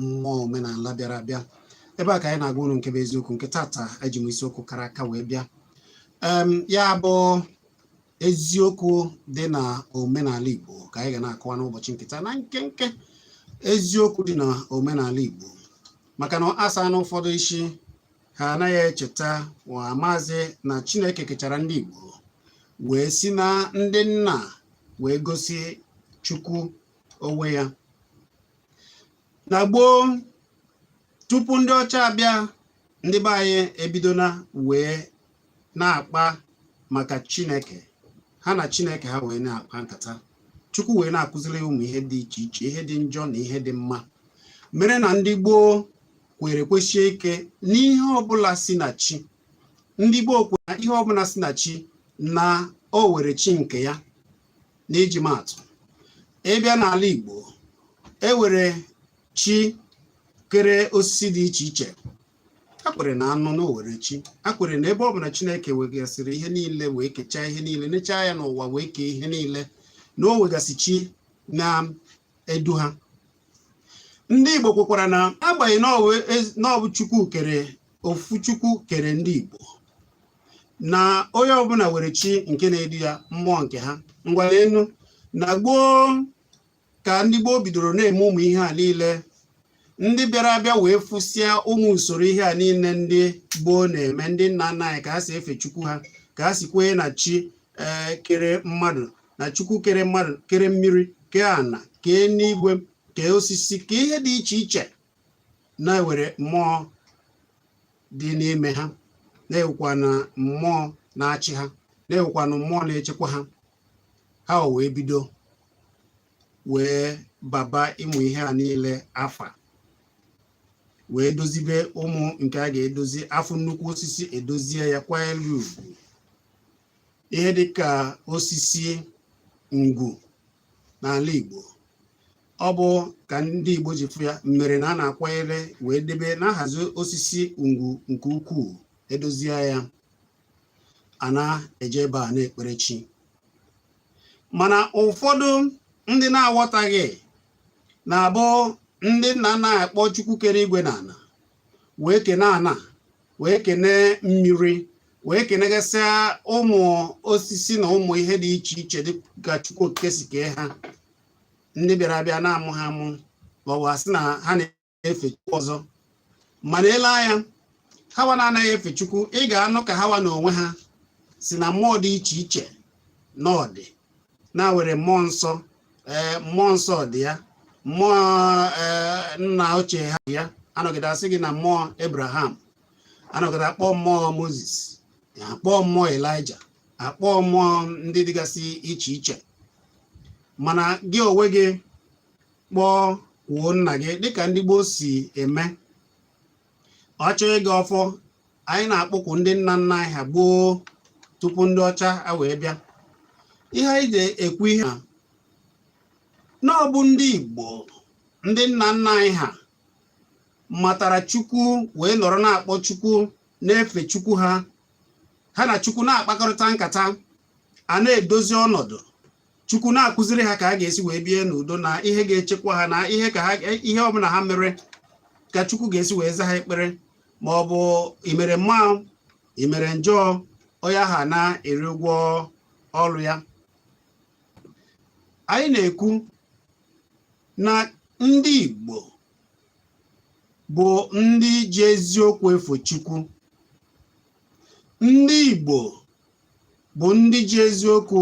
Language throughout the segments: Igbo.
mmụọ omenala bịara abịa ebe a ka anyị na-agwa unu nke bụ eziokwu nke tata eji m isiokwu kara aka wee bịa ya bụ eziokwu dị na omenala Igbo ka anyị ga na-akọwa n'ụbọchị nke taa na nkenke eziokwu dị na omenala Igbo maka na a sị na ụfọdụ isi ha anaghị echeta wa amazị na Chineke kechara ndị Igbo wee si na ndị nna wee gosi Chukwu onwe ya na gboo tupu ndị ọcha abịa ndị be anyị ebidona wee na-akpa maka chineke ha na chineke ha wee na-akpa nkata chukwu wee na-akụziri ha ụmụ ihe dị iche iche ihe dị njọ na ihe dị mma mere na ndị gboo kwere kwesie ike n'ihe ọbụla si na chi ndị gboo kwere na ihe ọbụla si na chi na o were chi nke ya n'iji maatụ ị bịa n'ala Igbo e were chi kere osisi dị iche iche a kwere na anụ na o were chi a kwere na ebe ọ bụ na Chineke wegasịrị ihe niile wee kechaa ihe niile nechaa anya n'ụwa wee kee ihe niile na o wegasị chi na-edu ha ndị Igbo kwekwara na agbanyeghị na ọ bụ Chukwu kere ofu Chukwu kere ndị Igbo na onye ọbụla were chi nke na-edu ya mmụọ nke ha ngwa leenụ na gboo ka ndị gboo bidoro na-eme ụmụ ihe a niile ndị bịara abịa wee fụsịa ụmụ usoro ihe a niile ndị gboo na-eme ndị nna nna anyị ka ha si efe chukwu ha ka ha si kwee na chi eh, kere mmadụ na chukwu kere mmadụ kere mmiri kee ana kee enigwe kee osisi kee ihe dị iche iche na e were mmụọ dị n'ime ha na-ewekwa na mmụọ na-achị ha na-ewekwa na mmụọ na-echekwa ha ha wee bido wee baba ụmụ ihe a niile afa wee dozibe ụmụ nke a ga-edozi a fụ nnukwu osisi e dozie ya kwanyere ugwu ihe dịka osisi ngwu n'ala Igbo ọ bụ ka ndị Igbo ji fụ ya mere na a na-akwanyere wee debe na-ahazi osisi ngwu nke ukwuu e dozie ya a na-eje ebe a na-ekpere chi mana ụfọdụ ndị na-aghọtaghị na-abụ ndị nna na-akpọ Chukwu kere igwe na ana wee kene ana wee kene mmiri wee kenegasịa ụmụ osisi na ụmụ ihe dị iche iche dịka Chukwu Okike si kee ha ndị bịara abịa na-amụ ha amụ hawa asị na ha na-efe Chukwu ọzọ mana e lee anya hawa na-anaghị efe Chukwu ị ga-anụ ka hawa na onwe ha si na mmụọ dị iche iche na ọ dị na-were mmụọ nsọ ee eh, mmụọ nsọ dị ya mmụọ eh, nna ochie ha dị ya anọgide asị gị na mmụọ Abraham anọgide akpọ mmụọ Moses akpọ mmụọ Elijah akpọ mmụọ ndị dịgasị iche iche mana gị onwe gị kpọkwuo nna gị dịka ndị gboo si eme ọ chọọ ịgọ ọfọ anyị na-akpọkwu ndị nna nna anyị ha gboo tupu ndị ọcha a wee bịa ihe anyị ji ekwu ihe a na ọ bụ ndị Igbo ndị nna nna anyị ha matara Chukwu wee nọrọ na-akpọ Chukwu na-efe Chukwu ha ha na Chukwu na-akpakọrịta nkata a na-edozi ọnọdụ chukwu na-akụziri ha ka ha ga-esi wee bie n'udo na ihe ga-echekwa ha na ihe ka ha ihe ọbụla ha mere ka chukwu ga-esi wee za ha ekpere ma ọ bụ i mere mma i mere njọ onye ahụ na-eri ụgwọ ọrụ ya anyị na-ekwu na ndị Igbo bụ ndị ji eziokwu efe Chukwu ndị Igbo bụ ndị ji eziokwu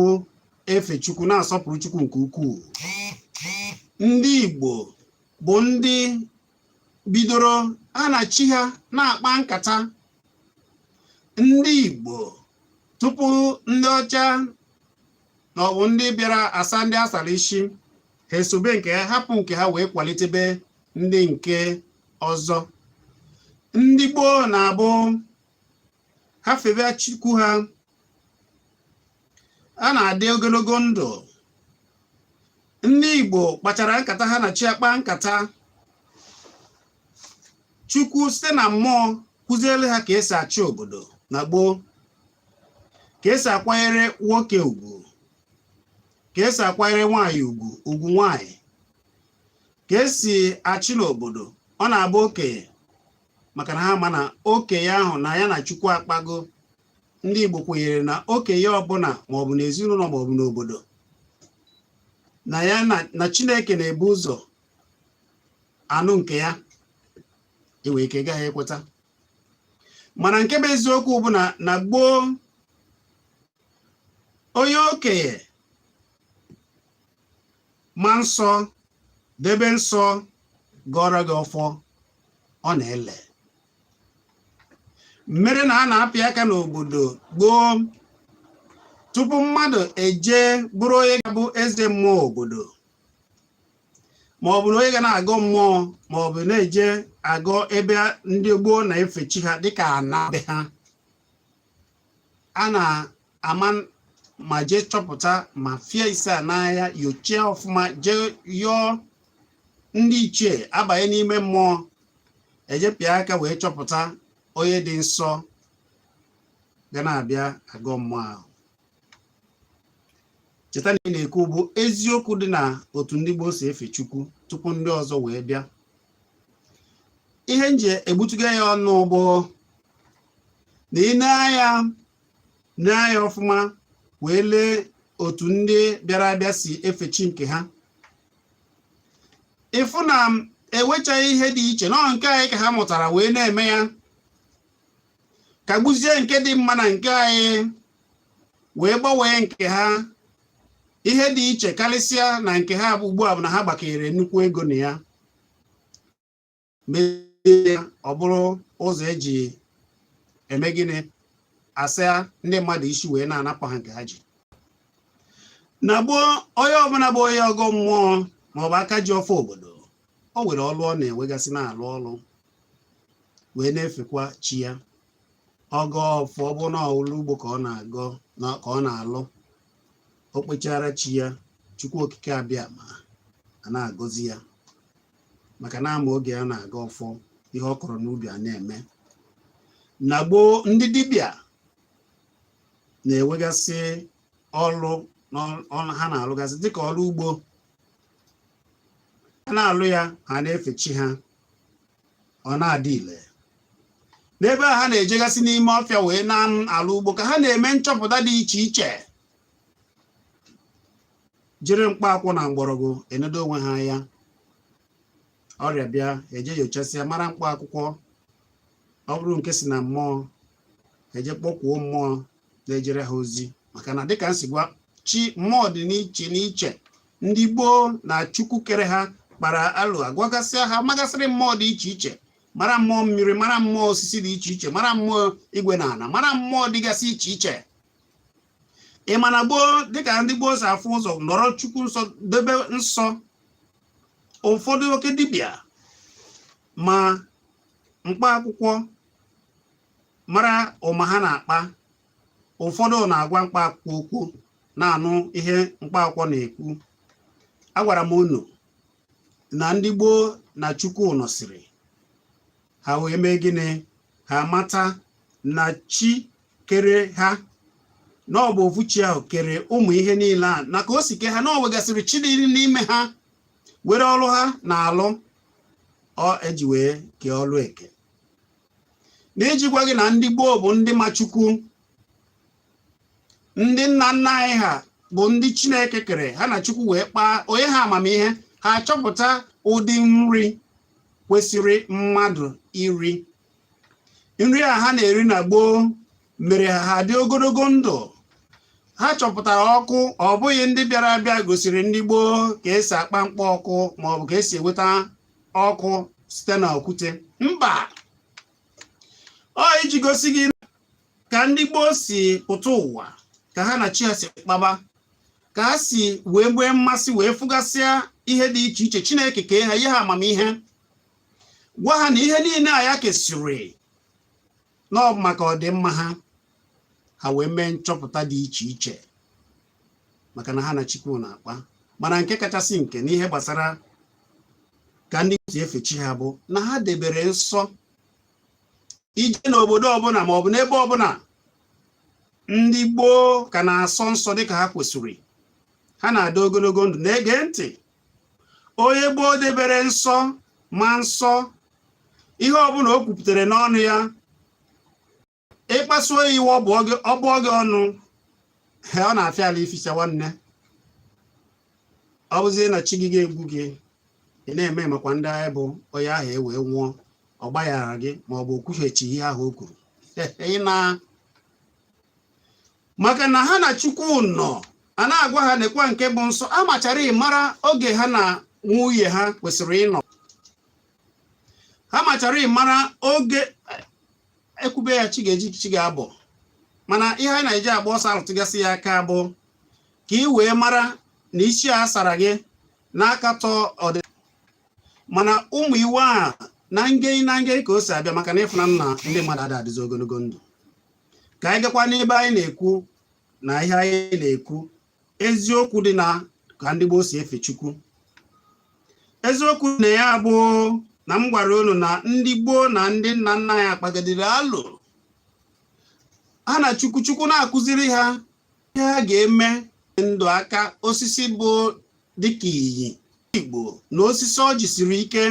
efe Chukwu na-asọpụrụ Chukwu nke ukwuu ndị Igbo bụ ndị bidoro ha na chi ha na-akpa nkata ndị Igbo tupu ndị ọcha na ọ bụ ndị bịara asa ndị a sara isi ha esobe nke ha hapụ nke ha wee kwalitebe ndị nke ọzọ ndị gboo na-abụ ha febe chukwu ha a na-adị ogologo ndụ ndị Igbo kpachara nkata ha na chi akpa nkata chukwu site na mmụọ kụziere ha ka esi achị obodo na gboo ka esi akwanyere nwoke ugwu ka esi akwanyere nwaanyị ugwu ugwu nwaanyị ka esi achị n'obodo ọ na-abụ okenye maka na ha ma na okenye ahụ na ya na Chukwu akpago ndị Igbo kwenyere na okenye ọbụla maọbụ n'ezinụlọ maọbụ n'obodo na ya na Chineke na-ebu ụzọ anụ nke ya enwere ike gaghị ekweta mana nke bụ eziokwu bụ na na gboo onye okenye ma nsọ debe nsọ gọrọ gị ọfọ ọ na-ele mere na a na-apị aka n'obodo gboo tupu mmadụ eje bụrụ onye ga-abụ eze mmụọ obodo ma ọ bụ na onye ga na-agọ mmụọ ma ọ bụ na-eje agọ ebe ndị gboo na-efe chi ha dịka ana be ha a na-ama ma jee chọpụta ma fie ise a n'ahịa nyochie ọfụma jee yọọ ndị ichie abanye n'ime mmụọ ejepịa aka wee chọpụta onye dị nsọ ga na-abịa agọ mmụọ ahụ cheta na ihe m na-ekwu bụ eziokwu dị na otu ndị gboo si efe chukwu tupu ndị ọzọ wee bịa ihe m ji egbutuga ya ọnụ bụ na ị nee anya nee anya ọfụma wee lee otu ndị bịara abịa si efe chi nke ha ị fụ na enwechaghị ihe dị iche na ọ nke anyị ka ha mụtara wee na-eme ya kagbuzie nke dị mma na nke anyị wee gbanwee nke ha ihe dị iche karịsịa na nke ha bụ ugbu a bụ na ha gbakere nnukwu ego na ya mee ọ bụrụ ụzọ eji eme gịnị asa ndị mmadụ isi wee na-anapụ ha nke ha ji na gboo onye ọbụla bụ onye ọgọ mmụọ maọbụ aka ji ọfọ obodo o nwere ọlụ ọ na-enwegasị na-alụ ọlụ wee na-efekwa chi ya ọ gọọ ọfọ ọ bụrụ na ọlụ ugbo ka ọ na-alụ o kpechaara chi ya chukwu okike abịama a na-agọzi ya maka na a ma oge a na-agọ ọfọ ihe ọ kọrọ n'ubi a na-eme na gboo ndị dibịa na-enwegasị ọlụ ha na-alụgasị dịka ọlụ ugbo a na-alụ ya ha na-efe chi ha ọ na-adị ile n'ebe a ha na-ejegasị n'ime ọfịa wee na-alụ ugbo ka ha na-eme nchọpụta dị iche iche jiri mkpa akwụ na mgbọrọgwụ enedo onwe ha anya ọrịa bịa e jee nyochasịa mara mkpa akwụkwọ ọ bụrụ nke si na mmụọ e jee kpọkwuo mmụọ na-ejere ha ozi maka na dịka m si gwa gị mmụọ dị n'iche n'iche ndị gboo na chukwu kere ha kpara alo agwagasịa ha magasịrị mmụọ dị iche iche mara mmụọ mmiri mara mmụọ osisi dị iche iche mara mmụọ igwe na ana mara mmụọ dịgasị iche iche ị ma na gboo dịka ndị gboo si afụ ụzọ nọrọ chukwu nsọ debe nsọ ụfọdụ oke dibịa ma mkpa akwụkwọ mara ụma ha na-akpa ụfọdụ na-agwa mkpa akwụkwọ okwu na-anụ ihe mkpa akwụkwọ na-ekwu agwara m unu na ndị gboo na chukwu nọsịrị ha wee mee gịnị ha mata na chi kere ha na ọ bụ ofu chi ahụ kere ụmụ ihe niile a na ka o si kee ha na o nwegasịrị chi dị n'ime ha nwere ọrụ ha na-alụ ọ eji wee kee ọrụ eke na iji gwa gị na ndị gboo bụ ndị ma chukwu ndị nna nna anyị ha bụ ndị chineke kere ha na chukwu wee kpaa o nye ha amamihe ha achọpụta ụdị nri kwesịrị mmadụ iri nri a ha na-eri na gboo mere ha dị ogologo ndụ ha chọpụtara ọkụ ọ bụghị ndị bịara abịa gosiri ndị gboo ka esi akpa mkpa ọkụ maọbụ ka esi enweta ọkụ site na okwute mba ọ iji gosi gị ka ndị gboo si pụta ụwa ka ha na chi ha si kpaba ka ha si wee nwee mmasị wee fụgasịa ihe dị iche iche chineke kee ha nye ha amamihe gwa ha na ihe niile a ya kesịrị na ọ maka ọdịmma ha ha wee mee nchọpụta dị iche iche maka na ha na chukwu na-akpa mana nke kachasị nke n'ihe gbasara ka ndị si efe chi ha bụ na ha debere nsọ i jee n'obodo ọbụla ma ọ bụ n'ebe ọbụla ndị gboo ka na-asọ nsọ dịka ha kwesịrị ha na-adị ogologo ndụ na-ege ntị onye gboo debere nsọ ma nsọ ihe ọbụla o kwupụtara n'ọnụ ya ị kpasuo ya iwe ọ bụọ gị ọnụ ọ na-afịa alụ ificha nwanne ọ bụzie na chi gị ga-egbu gị ị na-eme makwa ndị agha bụ onye ahụ e wee nwụọ ọ gbaghara gị ma ọ bụ o kwughachi ihe ahụ o kwuru ị na maka na ha na chukwu nọ a na-agwa ha nekwa nke bụ nsọ ha machara amara oge ha na nwunye ha kwesịrị ịnọ ha machara amara oge e kwube ya chi ga-eji chi ga-abọ mana ihe anyị na-eji agba ọsọ arụtụgasị ya aka bụ ka ị wee mara na isi a sara gị na-akatọ ọdịnana ụmụ iwu a na nge na nge ka o si abịa maka na ị fụna na ndị mmadụ ada adịzi ogologo ndụ ka anyị gakwa n'ebe anyị na-ekwu na ihe anyị na-ekwu eziokwu dị na ka ndị gboo si efe Chukwu eziokwu na ya bụ na m gwara unu na ndị gboo na ndị nna nna anyị kpagidere alụ ha na Chukwu Chukwu na-akụziri ha ihe ha ga-eme ndụ aka osisi bụ dịka inyi Igbo na osisi ọjị siri ike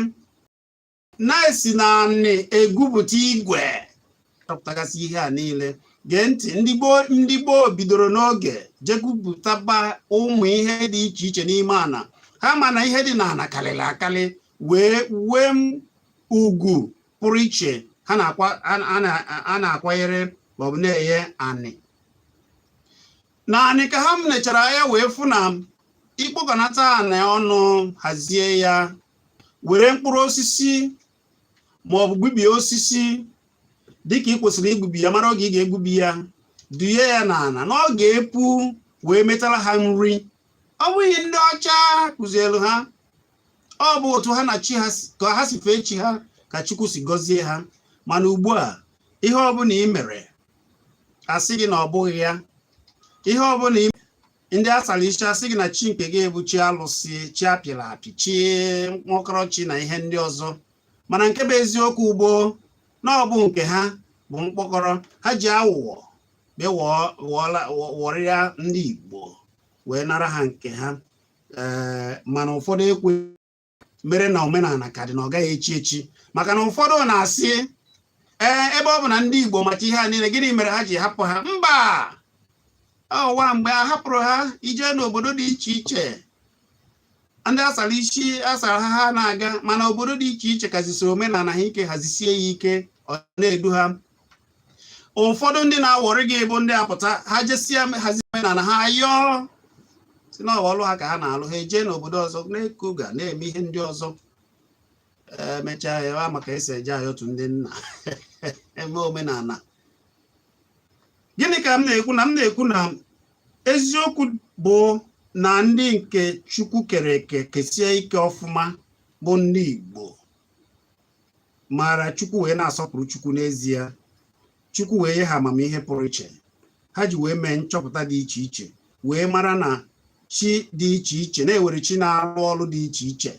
na-esi na anị egwupụta igwe chọpụtagasị ihe a niile gee ntị ndị gboo bidoro n'oge je gwupụtaba ụmụ ihe dị iche iche n'ime ana ha ma na ihe dị n'ana karịrị akarị wee nwee ugwu pụrụ iche ha na-akwanyere maọbụ na-enye anị naanị ka ha nechara anya wee fụ na ikpokọnata anị ọnụ hazie ya were mkpụrụ osisi ma ọ bụ gbubie osisi dịka i kwesịrị igbubi ya mara oge ị ga-egbubi ya duye ya n'ala na ọ ga-epu wee metara ha nri ọ bụghị ndị ọcha kụzielu ha ọ bụ otu ha na chi ha ka ha si fee chi ha ka Chukwu si gọzie ha mana ugbu a ihe ọbụla i mere a sị gị na ọ bụghị ya ihe ọbụla ndị a sara isi asị gị na chi nke gị bụ chi alụsị chi a pịrị apị chi mkpọkọrọ chi na ihe ndị ọzọ mana nke bụ eziokwu bụ na ọ bụ nke ha bụ mkpọkọrọ ha ji awụwọ wọrịa ndị Igbo wee nara ha nke ha eh, mana ụfọdụ ekwe mere na omenala ka dị na ọ gaghị echi echi maka na ụfọdụ na-asị ee ebe ọ bụ na ndị Igbo macha ihe a niile gịnị mere ha ji hapụ ha mba o nweghị mgbe a hapụrụ ha i jee n'obodo dị iche iche ndị a sara isi asara ha ha na-aga mana obodo dị iche iche ka jisi omenala ha ike ha jisie ya ike ọ na-edu ha ụfọdụ ndị na-awọrị gị bụ ndị apụta ha jesịa hazi omenala ha yọọ sị na ọlụ ha ka ha na-alụ ha ejee n'obodo ọzọ n'Eko ga na-eme ihe ndị ọzọ emechaa ya ma ka e si eje ayọtụ ndị na-eme omenala gịnị ka m na-ekwu na m na-ekwu na eziokwu bụ na ndị nke chukwu kere eke kesie ike ọfụma bụ ndị igbo maara chukwu wee na-asọpụrụ chukwu n'ezie chukwu wee nye ha amamihe pụrụ iche ha ji wee mee nchọpụta dị iche iche wee mara na chi dị iche iche na e nwere chi na-arụ ọrụ dị iche iche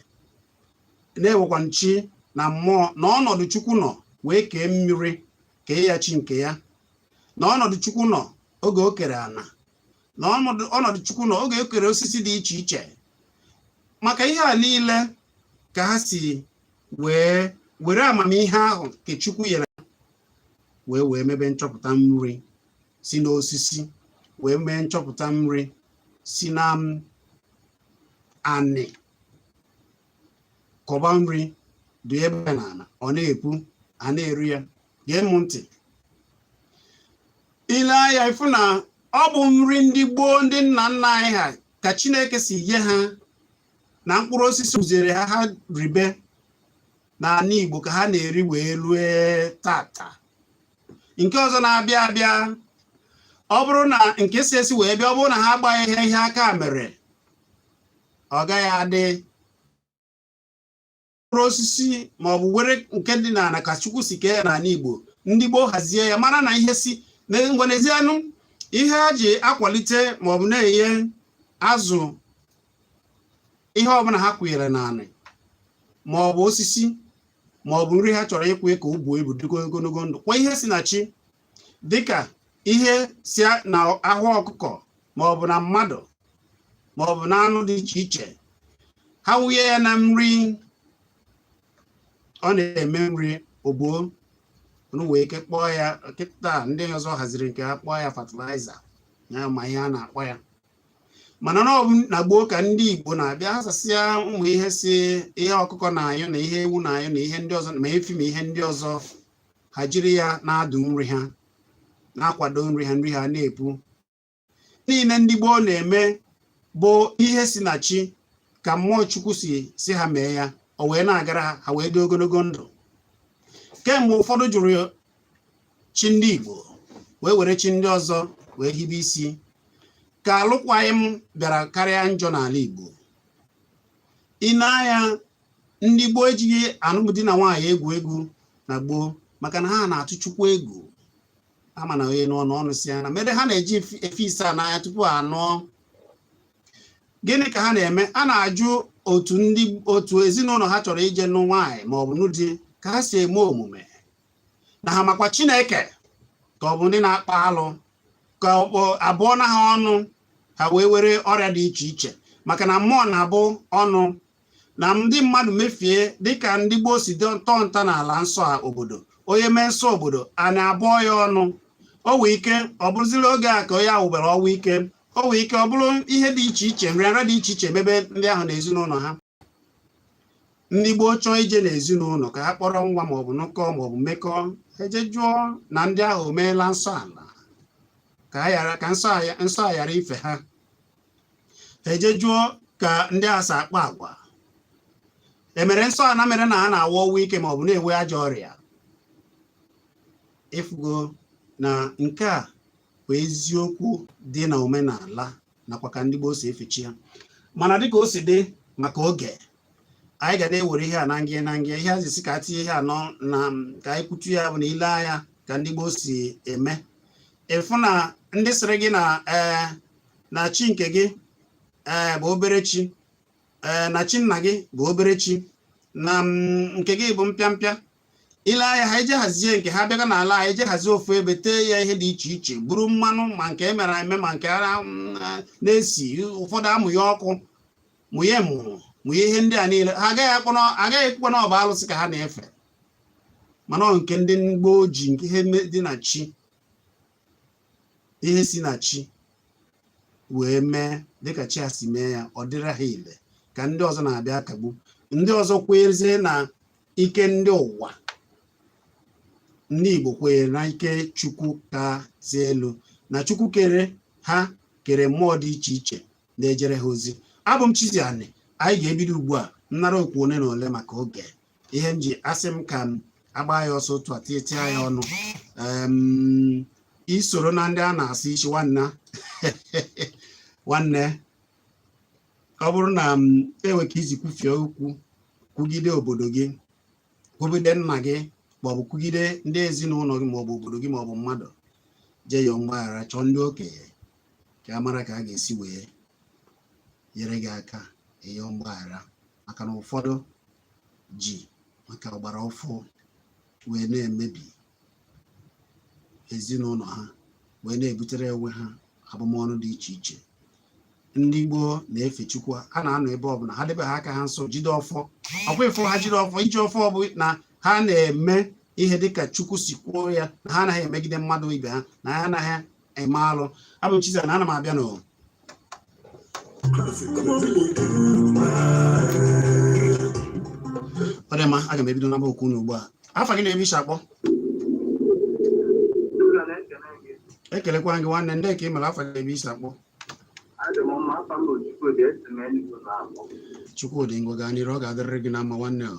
na e nwekwa chi na mmụọ na ọnọdụ chukwu nọ wee kee mmiri kee ya chi nke ya na ọnọdụ chukwu nọ oge o kere ana na ọnọdụ chukwu nọ oge o kere osisi dị iche iche maka ihe a niile ka ha si wee were amamihe ahụ nke Chukwu nyere wee wee mebe nchọpụta nri si n'osisi wee mee nchọpụta nri sị na anyị kọba nri duyebe n'ala ọ na-epu a na-eri ya gee m ntị i lee anya ị fụ na ọ bụ nri ndị gboo ndị nna nna anyị ha ka Chineke si nye ha na mkpụrụ osisi kụziere ha ha ribe n'ala Igbo ka ha na-eri wee rue tata nke ọzọ na-abịa abịa ọ bụrụ na nke si esi wee bịa ọ bụrụ na ha agbaghị ha ihe aka mere ọ gaghị adị mkpụrụ osisi ma ọ bụ were nke dị n'ala ka chukwu si kee ya n'ala igbo ndị gboo hazie ya mara na ihe si ngwa nsị anụ ihe a ji akwalite ma ọ bụ na-enye azụ ihe ọbụla ha kwụnyere n'ala ma ọ bụ osisi ma ọ bụ nri ha chọrọ ịkwụ ka o buo ibu dịgo ogologo ndụ kwa ihe si na chi dịka ihe si na ahụ ọkụkọ maọbụ na mmadụ maọbụ na anụ dị iche iche ha wụnye ya na nri ọ na-eme nri ogbuo unu wee ike kpọọ ya kịta ndị ọzọ haziri nke ha kpọọ ya fatịlaịza ya ma ihe a na-akpọ ya mana na ọbụ na gboo ka ndị Igbo na-abịa azasịa ụmụ ihe si ihe ọkụkọ na-anyụ na ihe ewu na-anyụ na ihe ndị ọzọ ma efi ma ihe ndị ọzọ ha jiri ya na-adụ nri ha na-akwado nri ha nri ha na-epu niile ndị gboo na-eme bụ ihe si na chi ka mmụọ chukwu si sị ha mee ya o wee na-agara ha ha wee dị ogologo ndụ kemgbe ụfọdụ jụrụ chi ndị igbo wee were chi ndị ọzọ wee hibe isi ka alụkwaghịm bịara karịa njọ n'ala igbo i nee anya ndị gboo ejighị alụmdi na nwaanyị egwu egwu na gboo maka na ha na-atụ chukwu egwu ama na onye n'ọnụ ọnụ si na mere ha na-eji efi asaa n'anya tupu ha nụọ gịnị ka ha na-eme a na-ajụ otu ndị otu ezinụlọ ha chọrọ ije nụ nwaanyị ma ọ bụ nụ di ka ha si eme omume na ha makwa chineke ka ọ bụ ndị na-akpa alụ ka a bụọna ha ọnụ ha wee were ọrịa dị iche iche maka na mmụọ na-abụ ọnụ na ndị mmadụ mefie dịka ndị gboo si tọọ ntọala nsọ a obodo onye mee nsọ obodo ana abụọ ya ọnụ o wee ike ọ bụrụziri oge a ka onye ahụ nwụbara ọnwụ ike o wee ike ọ bụrụ ihe dị iche iche nrịanrịa dị iche iche mebe ndị ahụ na ezinụlọ ha ndị gboo chọọ ije n'ezinụlọ ka ha kpọrọ nwa maọbụ nụkọọ maọbụ mekọọ e jee jụọ na ndị ahụ o meela nsọ ala ka nsọ a ghara ife ha e jee jụọ ka ndị a si akpa agwa e mere nsọ ana mere na ha na-anwụ ọnwụ ike ma ọ bụ na-enwe ajọ ọrịa ị fụgo na nke a bụ eziokwu dị na omenala nakwa ka ndị gboo si efe chi ha mana dịka o si dị maka oge anyị ga na-ewere ihe a na ngị na ngị ihe azisi ka tinye ihe anọ na ka anyị kwutu ya bụ na i lee anya ka ndị gboo si eme ị fụ na ndị sịrị gị na ee eh, na chi nke gị ee eh, bụ obere chi ee eh, na chi nna gị bụ obere chi na mm, nke gị bụ mpịampịa ile anya ha eje hazie nke ha bịaga n'ala ha eje hazie ofu ebe tee ya ihe dị iche iche buru mmanụ ma nke emere eme ma nke ara mm, na-esi ụfọdụ amụ ya ọkụ mụnye mụnye ihe ndị a niile ha agaghị ekwukwa na ọ bụ alụsị ka ha na-efe mana nke ndị gboo ji nke ihe dị na chi ihe si na chi wee mee dịka chi a si mee ya ọ dịrị ha ile ka ndị ọzọ na-abịa akagbu ndị ọzọ kwezie na ike ndị ụwa ndị Igbo kwenyere na ike Chukwu kasị elu na Chukwu kere ha kere mmụọ dị iche iche na-ejere ha ozi abụ m Chizzy Ani anyị ga-ebido ugbu a nnara okwu ole na ole maka oge ihe m ji asị m ka m agba ya ọsọ otu a tinyechaa ya ọnụ isoro na ndị a na-asị isi nwanna nwanne ọ bụrụ na e nwee ka i si kwufie okwu kwugide obodo gị kwugide nna gị maọbụ kwugide ndị ezinụlọ gị maọbụ obodo gị maọbụ mmadụ jee yọọ mgbaghara chọọ ndị okenye ka a mara ka a ga-esi wee nyere gị aka ịyọọ mgbaghara maka na ụfọdụ ji maka ọgbara ọfụ wee na-emebi ezinụlọ ha wee na-ebutere onwe ha abụmọnụ dị iche iche ndị gboo na-efe Chukwu ha na-anọ ebe ọbụla ha debe ha aka ha nsọ jide ọfọ ọkwa ị fụ ha jide ọfọ iji ọfọ bụ na ha na-eme ihe dịka Chukwu si kwuo ya na ha anaghị emegide mmadụ ibe ha na ha anaghị eme alụ abụ m Chizzy na ana m abịa n'ọ dị mma aga m ebido naba okwu unu ugbu a afa gị na ebe i si akpọ ekelekwa gị nwanne ndị ka ị mere afa gị na ebe i si akpọ Chukwudị ngwa gaa n'iru ọ ga-adịrịrị gị na mma nwanne ọ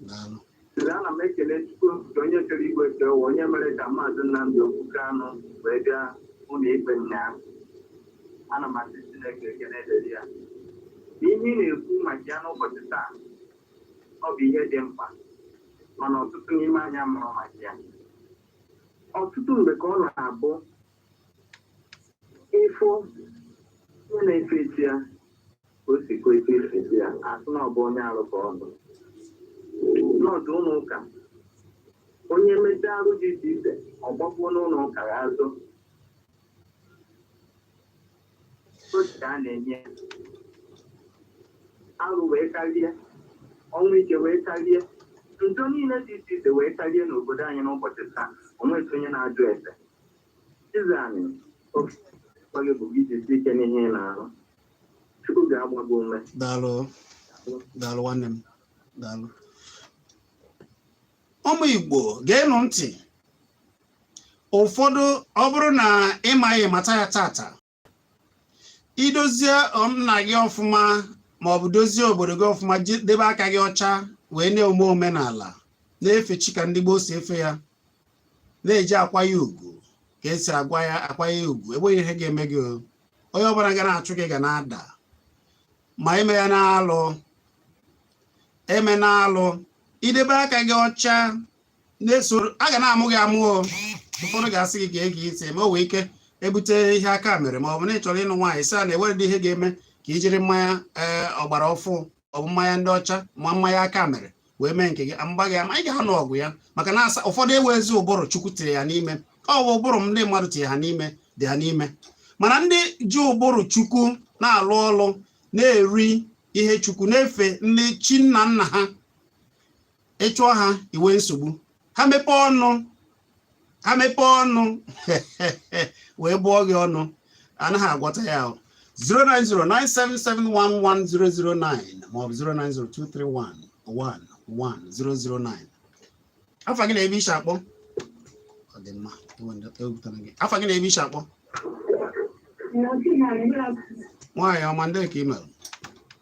Daalụ. Sịrị ana m ekele Chukwu nke onye kere igwe kee ụwa onye mere ka maazị Nnamdi Okwu Kanu wee bịa ụlọ ikpe ụnyaahụ. Ana m asị Chineke ekele dịrị ya. Ihe ị na-ekwu maka ya n'ụbọchị taa ọ bụ ihe dị mkpa mana ọtụtụ n'ime anyị amarọ maka ya. Ọtụtụ mgbe ka ọ na-abụ ịfụ onye na-efe chi ya ka o si kwesị ife chi ya asị na ọ bụ onye arụ ka ọ nọ n'ọdụ ụlọ ụka onye mechaa arụ dị iche iche ọ gbakwuo n'ụlọ ụka ya azụ otu ka a na-enye arụ wee karịa ọnwụ ike wee karịa njọ niile dị iche iche wee karịa n'obodo anyị n'ụbọchị taa onweghị onye na-ajụ ese daalụ daalụ nwanne m daalụ ụmụ igbo geenụ ntị ụfọdụ ọ bụrụ na ịmaghị mata ya tata idozie ụmụnna gị ọfụma ma ọ bụ dozie obodo gị ọfụma ji- debe aka gị ọcha wee na-eme omenala na-efe chi ka ndị gboo si efe ya na-eji akwa ya ugwu ka esi agwa ya akwa ya ugwu enweghị ihe ga-eme gị o. onye ọbụla ga na-achụ gị ga na-ada ma emena alụ emena alụ idebe aka gị ọcha na-esoro a ga na-amụ gị amụ o ụfọdụ ga-asị gị gee gị ntị ma o wee ike ebute ihe aka mere ma ọ bụ na ị chọrọ ịnụ nwaanyị sị a na-ewere dị ihe ga-eme ka i jiri mmanya ee ọgbara ọfụ ọ bụ mmanya ndị ọcha ma mmanya aka mere wee mee nke gị mgba gị ama ị ga-anụ ọgụ ya maka na asa ụfọdụ enwezi ụbụrụ chukwu tiri ya n'ime ọ bụ ụbụrụ ndị mmadụ tiri ha n'ime dị ha n'ime mana ndị ji ụbụrụ chukwu na-alụ ọlụ na-eri ihe chukwu na-efe ndị chi nna nna ha ịchụọ ha iwe nsogbu ha mepee ọnụ ha mepee ọnụ wee bụọ gị ọnụ anaghị agwọta ya ahụ 09097711009 maọbụ 09023111009 afa gị na ebe i shi akpọ ọ dị mma ewepụtara gị afa gị na ebe i shi akpọ nwaanyị ọma ndị ka ị mere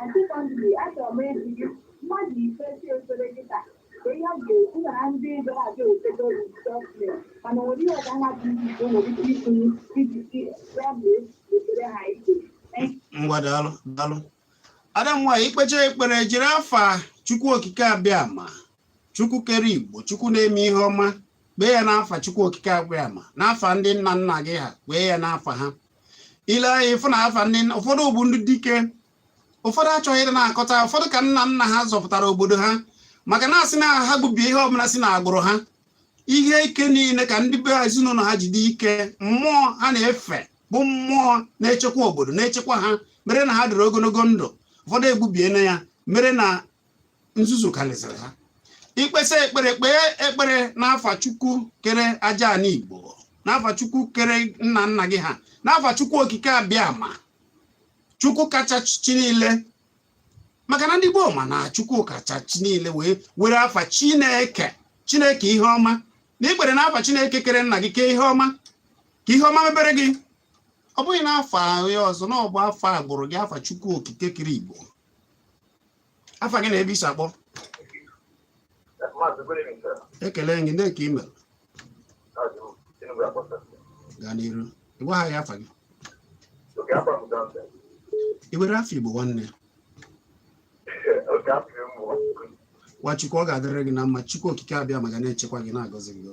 And secondly, achọrọ m ịjụ gị mmadụ ikpesi ekpere gị taa ka ihe ọ ga-ekwu na ndị gara aga etego rejistọsmen mana nwere ihe ọga ha dị iche iche nwere ike itinye iji si ya bụ ekpere ha ike. ngwa daalụ daalụ ada m nwaanyị ikpecha ekpere jiri afa chukwu okike abịama chukwu kere igbo chukwu na-eme ihe ọma kpee ya n'afa chukwu okike abịama n'afa ndị nna nna gị ha kpee ya n'afa ha ile anya fụ na afa ndị ụfọdụ bụ ndị dike ụfọdụ achọghị ịdị na-akọta ụfọdụ ka nna nna ha zọpụtara obodo ha maka na asị na ha gbubie ihe ọbụla si na agbụrụ ha ihe ike niile ka ndị be ezinụlọ ha ji dị ike mmụọ ha na-efe bụ mmụọ na-echekwa obodo na-echekwa ha mere na ha dịrị ogologo ndụ ụfọdụ egbubiena ya mere na nzuzu karịsịrị ha ikpesa ekpere kpee ekpere n'afa chukwu kere aja ana igbo n'afa chukwu kere nna nna gị ha n'afa chukwu okike abịama chukwu kacha chi niile maka na ndị gboo ma na chukwu kacha chi niile wee were afa chineke chineke ihe ọma na ikpere n'afa chineke kere nna gị kee ihe ọma ka ihe ọma mebere gị ọ bụghị n'afa onye ọzọ na ọ bụ afa agbụrụ gị afa chukwu okike kere igbo afa gị na ebe i si akpọ ekele gị ndị ka imeela gaa n'iru ị gwa anyị afa gị i were afọ igbo nwanne nwa chukwu ọ ga-adịrị gị na mma chukwu okike abịama ga na-echekwa gị na-agọzi gị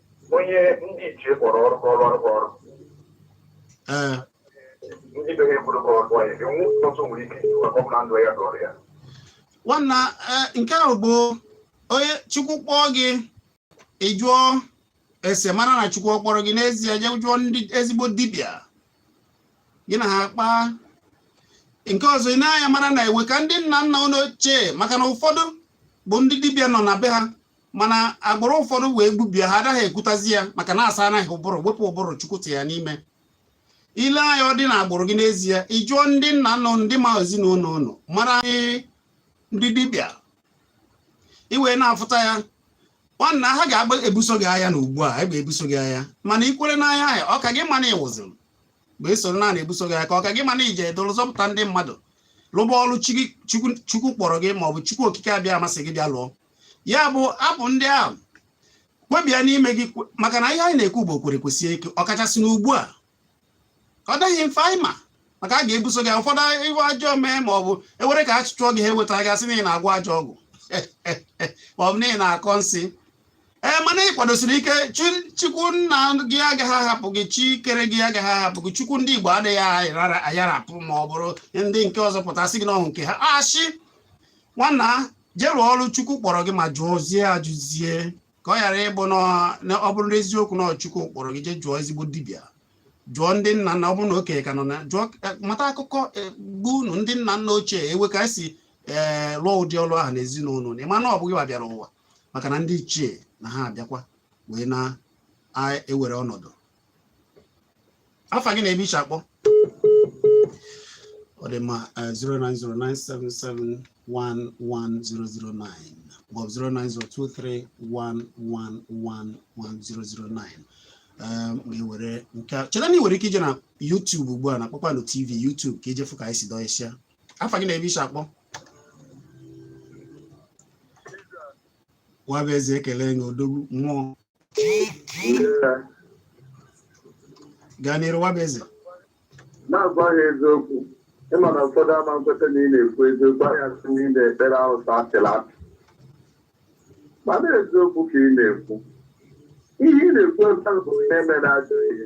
onye ndị ichie kpọrọ ọrụ ka ọrụ arụkọ ọrụ ee ndị be ha ekwuru ka ọ rụọ ya ebe nwa ọtụtụ nwere ike iji maka ọ bụla ndụ ya dọrọ ya nwanna ee, nke ahụ bụ onye chukwu kpọọ gị ị jụọ ese mara na chukwu ọ kpọrọ gị n'ezie jee jụọ ndị ezigbo dibịa gị na ha kpaa nke ọzọ ị nee anya mara na e nwe ka ndị nna nna unu ochie maka na ụfọdụ bụ ndị dibịa nọ na be ha mana agbụrụ ụfọdụ wee gbubie ha anaghị ekwutazi ya maka na a saana ha ụbụrụ wepụ ụbụrụ chukwu ti ya n'ime i lee anya ọ dị na agbụrụ gị n'ezie ị jụọ ndị nna nna ndị ma ezinụlọ unu mara ndị dibịa i wee na-afụta ya nwanna ha ga-agba ebuso gị agha na ugbu a egbe ebuso gị agha mana i kwere n'ahịa ahịa ọ ka gị mma na ị nwụziri mgbe e soro na-ebuso gị agha ka ọ ka gị mma na ije edoro zọpụta ndị mmadụ lụba ọrụ chukwu kpọrọ gị ma ọ bụ chukwu okike abịama sị gị bịa lụọ ya bụ abụ ndị ahụ kwe bịa n'ime gị maka na ihe anyị na-ekwu bụ kwere kwesie ike ọkachasị n'ugbu a ọ dịghị mfe anyị ma maka a ga-ebuso gị ụfọdụ iwe ajọọ mee ma ọ bụ ewere ka a chụọ gị ha eweta gị asị na ị na-agwọ ajọ ọgwụ ma ọ bụ na ị na-akọ nsị ee mana ị kwadosiri ike chukwu nna gị agaghị ahapụ gị chi kere gị agaghị ahapụ gị chukwu ndị igbo adịghị ayarapụ ma ọ bụrụ ndị nke ọzọ pụta sị gị na ọ bụ nke ha ashị nwanna jee rụọ ọrụ chukwu kpọrọ gị ma jụọzie ajụzie ka ọ ghara ịbụ na ọ bụrụ na eziokwu na chukwu kpọrọ gị jee jụọ ezigbo dibịa jụọ ndị nna nna ọ bụrụ na okenye ka nọ na jụọ eh, mata akụkọ agbụrụ unu ndị nna nna ochie e nwe ka e si ee eh, lụọ ụdị ọrụ ahụ n'ezinụlọ na ịma na ọ bụ gịwa bịara ụwa maka na ndị ichie na ha abịakwa wee na-ewere ọnọdụ afa gị na ebe i shi akpọ ọ dị mma 09097711009 maọbụ 09023111009 ga-ewere nke a cheta na ị nwere ike ije na YouTube ugbu a na Kpakpando TV YouTube ka i je fụ ka anyị si dọọ isi ya afa gị na ebe i shi akpọ Nwabụeze ekele gị odogwu mmụọ gaa n'iru Nwabụeze na-agwa ha eziokwu ị ma na ụfọdụ ama nkweta na ị na-ekwu eziokwu a ya-asị na ị na-ekpere arụsị apịla apị mana eziokwu ka ị na-ekwu ihe ị na-ekwu ebe ahụ bụ ihe mere ajọ ihe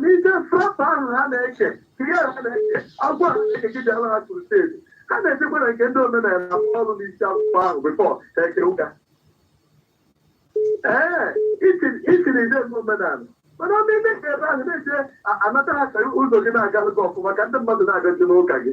n'ike prọpa ahụ ha na-eche ihe ha na-eche agwa ha na-eche gị bịara ha crusade ha na-ejekwa na nke ndị omenala akwụ ọrụ n'isi akwụkwọ ahụ before ha eje ụka ee itiri ide ndị omenala mana ọ na-eme ka ebe ahụ na-eche anata ha ka ụzọ gị na-agalụ gị ọfụma ka ndị mmadụ na-agazi n'ụka gị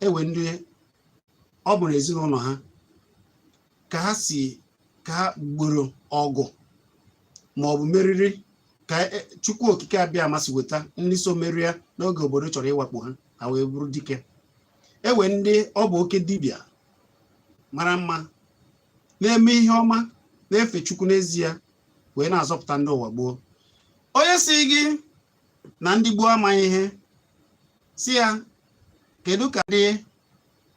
e nwee ndị ọ bụ n'ezinụlọ ha ka ha si ka ha gboro ọgụ ma ọ bụ meriri ka e, chukwu okike abịama si weta ndị so merie n'oge obodo chọrọ ịwakpo ha ha wee bụrụ dike e nwee ndị ọ bụ oke dibịa mara mma na-eme ihe ọma na-efe chukwu n'ezie wee na-azọpụta ndị ụwa gboo onye sị gị na ndị gboo amaghị ihe sị ya kedu ka ndị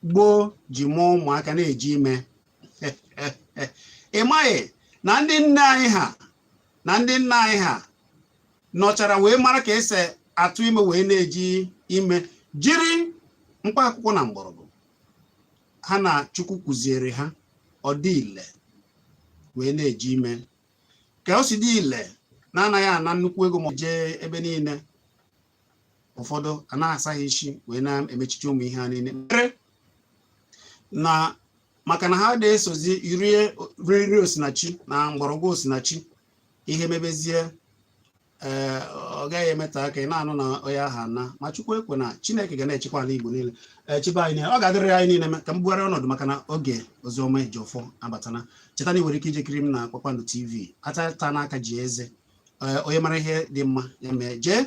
gboo ji mụọ ụmụaka na-eji ime ị maghị na ndị nne anyị ha na ndị nna anyị ha nọchara wee mara ka esi atụ ime wee na-eji ime jiri mkpa akwụkwọ na mgbọrọgwụ ha na chukwu kụziere ha ọ dị ile wee na-eji ime ka o si dị ile na-anaghị ana nnukwu ego ma jee ebe niile ụfọdụ a na-asaghị isi wee na-emechichi ụmụ ihe a niile mere na maka na ha na-esozi rie nri osinachi na mgbọrọgwụ osinachi ihe mebezie ee eh, ọ gaghị emeta aka ị na-anụ na onye aha na ma chukwu ekwe na chineke ga na-echekwa ala igbo niile eh, chebe anyị ọ ga-adịrị anyị niile ka m bugharị ọnọdụ maka na oge Oziọma Ejiọfọ abatana cheta na ị nwere ike ije kiri m na kpakpando tv atata n'aka ji eze eh, onye mara ihe dị mma ya mee jee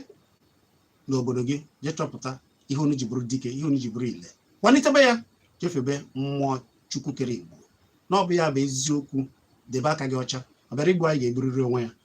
n'obodo gị jee chọpụta ihe unu ji bụrụ dike ihe unu ji bụrụ ile kwalitebe ya jee febe mmụọ chukwu kere igbo na ọ bụ ya bụ eziokwu debe aka gị ọcha ọ bịara igbu anyị ga-egburiri onwe ya